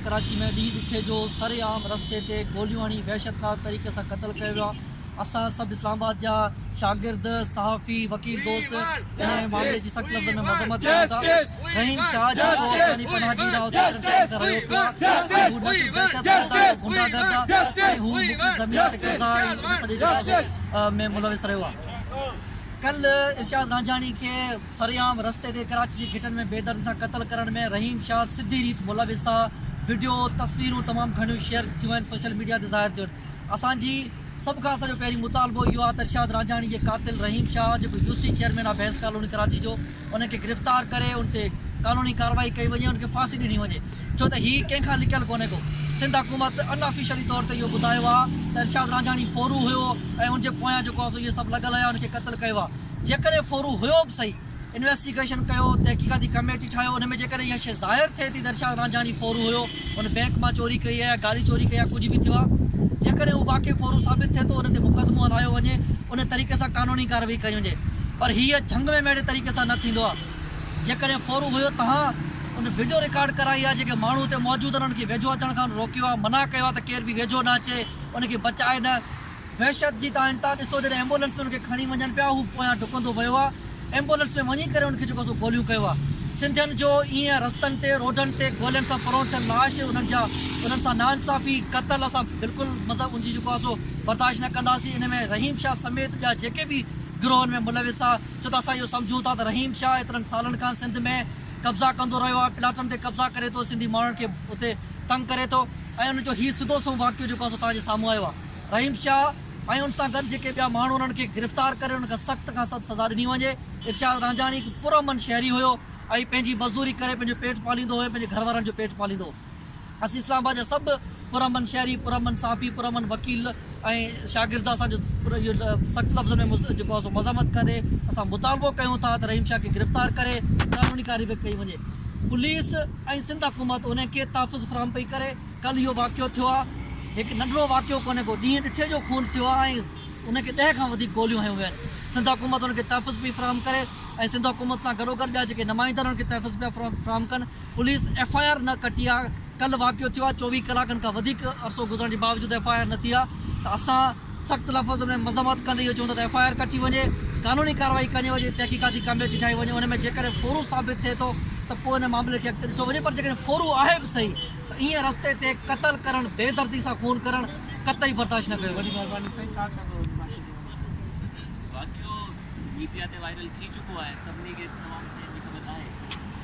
ڪراچي ۾ ڏينهن ڏکي جو سر عام رستي تي گوليون هڻي وحشتناڪ طريقي سان قتل ڪيو ويو آهي اسان سڀ اسلام آباد جا شاگرد صحافي وڪيل دوست انهي معاملي جي سخت لفظن ۾ مذمت ڪريون ٿا رحيم شاهه جيڪو پاڪستاني پناهه گير آهي اتي ڪيترن سالن کان رهيو پيو آهي ۽ هو نسل دهشت گرد آهي هو غنڊا گرد آهي ۽ هو مڪي زمين تي قبضا ۽ ان سڄي جنازي ۾ ملوث رهيو آهي ڪل ارشاد رانجهاڻي کي سرعام رستي تي ڪراچي جي گهٽن ۾ بيدردي سان قتل ڪرڻ ۾ رحيم شاهه سڌي ريت ملوث آ، وڊيو، تصويرون تمام گهڻيون شيئر ٿيون آهن سوشل ميڊيا تي ظاهر ٿيو آهن، اسان جي سڀ کان اسان جو پهرين مطالبو اهو آ ته ارشاد رانجهاڻي جي قاتل رحيم شاهه جيڪو يو سي چيئرمين آ بينس ڪالوني ڪراچي جو ان کي گرفتار ڪري ان تي قانوني ڪاروائي ڪئي وڃي ان کي ڦاسي ڏني وڃي ڇو ته هي ڪنهن کان لڪيل ڪونهي ڪو سنڌ حڪومت ان آفيشلي طور تي اهو ٻڌايو آ ته ارشاد رانجهاڻي ڦورو هيو ۽ ان جي پويان جيڪو آ سو اهي سڀ لڳل هيا ان کي قتل ڪيو آ. جيڪڏهن ڦورو هيو به سهي، انويسٽيگيشن ڪيو، تحقيقاتي ڪميٽي ٺاهيو، ان ۾ جيڪڏهن اها شيء ظاهر ٿئي ٿي ته ارشاد رانجهاڻي ڦورو هيو، هن بينڪ مان چوري ڪئي آهي يا گاڏي چوري ڪئي آهي يا ڪجهه به ٿيو آهي، جيڪڏهن اهو واقعي ڦورو ثابت ٿئي ٿو، ان تي مقدمو هلايو وڃي، ان طريقي سان قانوني ڪارروائي ڪئي وڃي. پر هيء جهنگ ۾ مهڙي طريقي سان نه ٿيندو آهي. جيڪڏهن ڦورو هيو، توهان ان وڊيو رڪارڊ ڪرائي آهي، جيڪي ماڻهو اتي موجود آهن، انهن کي ويجهو اچڻ کان روڪيو آهي، منع ڪيو آهي ته ڪير به ويجهو نه اچي، ان کي بچائي نه. وحشت جي تان انتها ڏسو جڏهن ايمبولنس ۾ ان کي کڻي وڃن پيا هو پويان ڊڪندو ويو آ ايمبولنس ۾ وڃي ڪري ان کي جيڪو سو گوليون ڪيو آ سنڌين جو ايئن رستن تي روڊن تي گولين سان پرون ٿيل لاش انهن جا انهن سان ناانصافي قتل اسان بلڪل مذهب ان جي جيڪو آ سو برداشت نه ڪنداسين ان ۾ رحيم شاھ سميت ٻيا جيڪي به گروهن ۾ ملوث آ ڇو ته اسان اهو سمجهون ٿا ته رحيم شاھ ايترن سالن کان سنڌ ۾ قبضا ڪندو رهيو آ پلاٽن تي قبضا ڪري ٿو سنڌي ماڻهن کي اتي تنگ ڪري ٿو ۽ ان جو هي سڌو سنئون واقعو جيڪو آ سو توهان جي سامهون آيو آ. رحيم شاهه ۽ ان سان گڏ جيڪي ٻيا ماڻهو انهن کي گرفتار ڪري انهن کي سخت کان سخت سزا ڏني وڃي، ارشاد رانجهاڻي هڪ پرامن شهري هيو ۽ پنهنجي مزدوري ڪري پنهنجو پيٽ پاليندو هيو پنهنجي گهر وارن جو پيٽ پاليندو هو اسين اسلام آباد جا سڀ پرامن شهري پرامن صحافي پرامن وڪيل ۽ شاگرد اسان جو اهو سخت لفظن ۾ جيڪو سو مذمت ڪندي اسان مطالبو ڪيون ٿا ته رحيم شاهه کي گرفتار ڪري قانوني ڪارروائي ڪئي وڃي پوليس ۽ سنڌ حڪومت انهن کي تحفظ فراهم پئي ڪري ڪل اهو واقعو ٿيو آهي، هڪ ننڍڙو واقعو ڪونهي ڪو ڏينهن ڏٺي جو خون ٿيو آهي ۽ ان کي ڏهه کان وڌيڪ گوليون هنيون ويون آهن، سنڌ حڪومت ان کي تحفظ پئي فراهم ڪري ۽ سنڌ حڪومت سان گڏوگڏ ٻيا جيڪي نمائندا آهن ان کي تحفظ پيا فراهم ڪن، پوليس ايف آء آر نه ڪٽي آهي، ڪل واقعو ٿيو آهي چوويهه ڪلاڪن کان وڌيڪ عرصو گذرڻ جي باوجود ايف آء آر نه ٿي آهي ته اسان سخت لفظن ۾ مذمت ڪندي اهو چون ٿا ته ايف آء آر ڪٽي وڃي قانوني ڪارروائي ڪني وڃي تحقيقاتي ڪميٽي ٺاهي وڃي ان ۾ جيڪڏهن ڦورو ثابت ٿئي ٿو ته پوء ان معاملي کي اڳتي ڏٺو وڃي پر جيڪڏهن ڦورو آهي به صحيح ايئن رستي تي قتل ڪرڻ بي دردي سان خون ڪرڻ قطعي برداشت نه ڪيو ويندو.